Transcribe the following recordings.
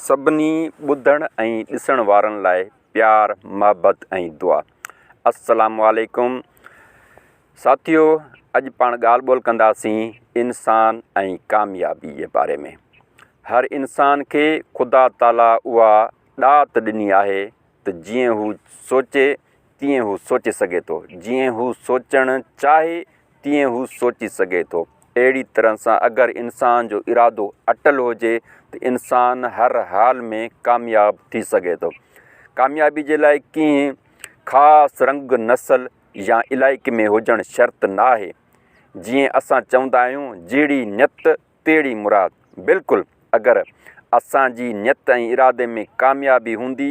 سڀني ٻڌڻ ۽ ڏسڻ وارن لاء پيار محبت ۽ دعا السلام عليڪم ساٿيو اڄ پاڻ ڳالھ ٻولھ ڪنداسين انسان ۽ ڪاميابي جي باري ۾ هر انسان کي خدا تعالي اها ڏات ڏني آهي ته جيئن هو سوچي تيئن هو سوچي سگهي ٿو، جيئن هو سوچڻ چاهي تيئن هو سوچي سگهي ٿو. اهڙي طرح سان اگر انسان جو ارادو اٽل هجي ته انسان هر حال ۾ ڪامياب ٿي سگهي ٿو. ڪاميابي جي لاء ڪنهن خاص رنگ، نسل يا علائقي ۾ هجڻ شرط ناهي. جيئن اسان چوندا آهيون جهڙي نيت تيڙي مراد، بلڪل اگر اسان جي نيت ۽ ارادي ۾ ڪاميابي هوندي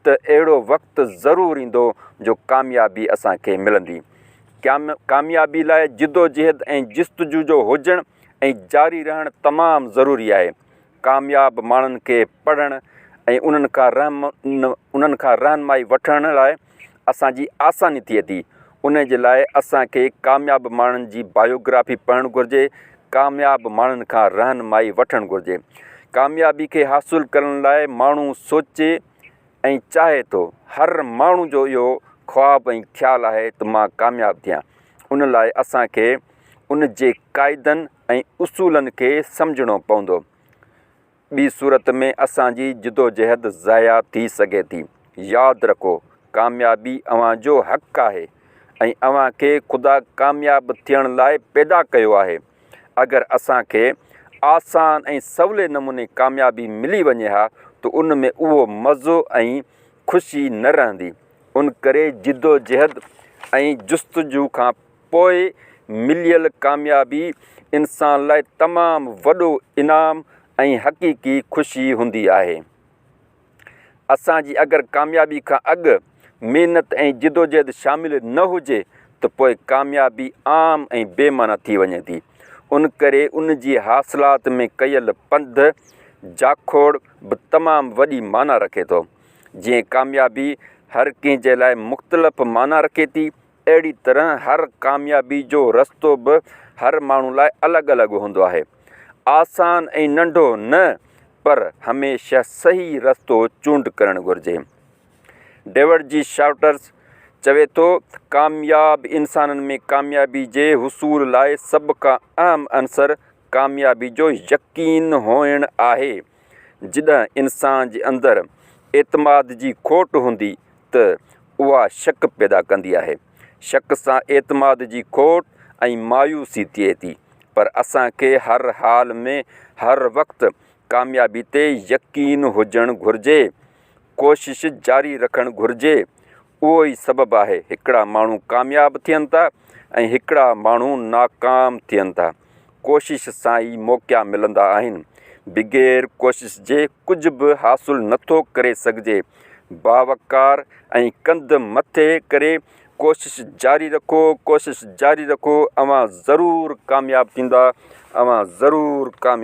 ته اهڙو وقت ضرور ايندو جو ڪاميابي اسان کي ملندي. ڪاميابي لاء جدوجهد ۽ جستجوجو هجڻ ۽ جاري رهڻ تمام ضروري آهي. ڪامياب ماڻهن کي پڙهڻ ۽ انهن کان رهنمائي وٺڻ لاء اسان جي آساني ٿئي ٿي. انهي جي لاء اسان کي ڪامياب ماڻهن جي بايوگرافي پڙهڻ گهرجي، ڪامياب ماڻهن کان رهنمائي وٺڻ گهرجي. ڪاميابي کي حاصل ڪرڻ لاء ماڻهو سوچي ۽ چاهي ٿو. هر ماڻهو جو اهو خواب ۽ خيال آهي ته مان ڪامياب ٿيان. ان لاء اسان کي ان جي قاعدن ۽ اصولن کي سمجهڻو پوندو. ٻي صورت ۾ اسان جي جدوجهد ضايع ٿي سگهي ٿي. ياد رکو، ڪاميابي اوهان جو حق آهي ۽ اوهان کي خدا ڪامياب ٿيڻ لاء پيدا ڪيو آهي. اگر اسان کي آسان ۽ سولي نموني ڪاميابي ملي وڃي ها ته ان ۾ اهو مزو ۽ خوشي نه رهندي. انڪري جدوجهد ۽ جستجو کان. پوء مليل ڪاميابي انسان لاء تمام وڏو انعام ۽ حقيقي خوشي هوندي آهي. اسان جي اگر ڪاميابي کان اڳ محنت ۽ جدوجهد شامل نه هجي ته پوء ڪاميابي عام ۽ بي معنيٰ ٿي وڃي ٿي. ان ڪري ان جي حاصلات ۾ ڪيل پنڌ، جاکوڙ، به تمام وڏي معنيٰ رکي ٿو. جيئن ڪاميابي هر ڪنهن جي لاء مختلف معنيٰ رکي ٿي اهڙي طرح هر ڪاميابي جو رستو به هر ماڻهو لاء الڳ الڳ هوندو آهي. آسان ۽ ننڍو نه پر هميشه صحيح رستو چونڊ ڪرڻ گهرجي. ڊيوڊ جي شارٽرز چوي ٿو ته ڪامياب انسانن ۾ ڪاميابي جي حصول لاء سڀ کان اهم عنصر ڪاميابي جو يقين هئڻ آهي. جڏهن انسان جي اندر اعتماد جي کوٽ هوندي ته اها شڪ پيدا ڪندي آهي. شڪ سان اعتماد جي کوٽ ۽ مايوسي ٿئي ٿي. پر اسان کي هر حال ۾ هر وقت ڪاميابي تي يقين هجڻ گهرجي. ڪوشش جاري رکڻ گهرجي. اهو ئي سبب آهي هڪڙا ماڻهو ڪامياب ٿين ٿا ۽ هڪڙا ماڻهو ناڪام ٿين ٿا. ڪوشش سان ئي موقعا ملندا آهن. بغير ڪوشش جي ڪجهه به حاصل نٿو ڪري سگهجي. باوقار ۽ ڪنڌ مٿي ڪري ڪوشش جاري رکو، ڪوشش جاري رکو، اوهان ضرور ڪامياب ٿيندا، اوهان ضرور ڪامياب.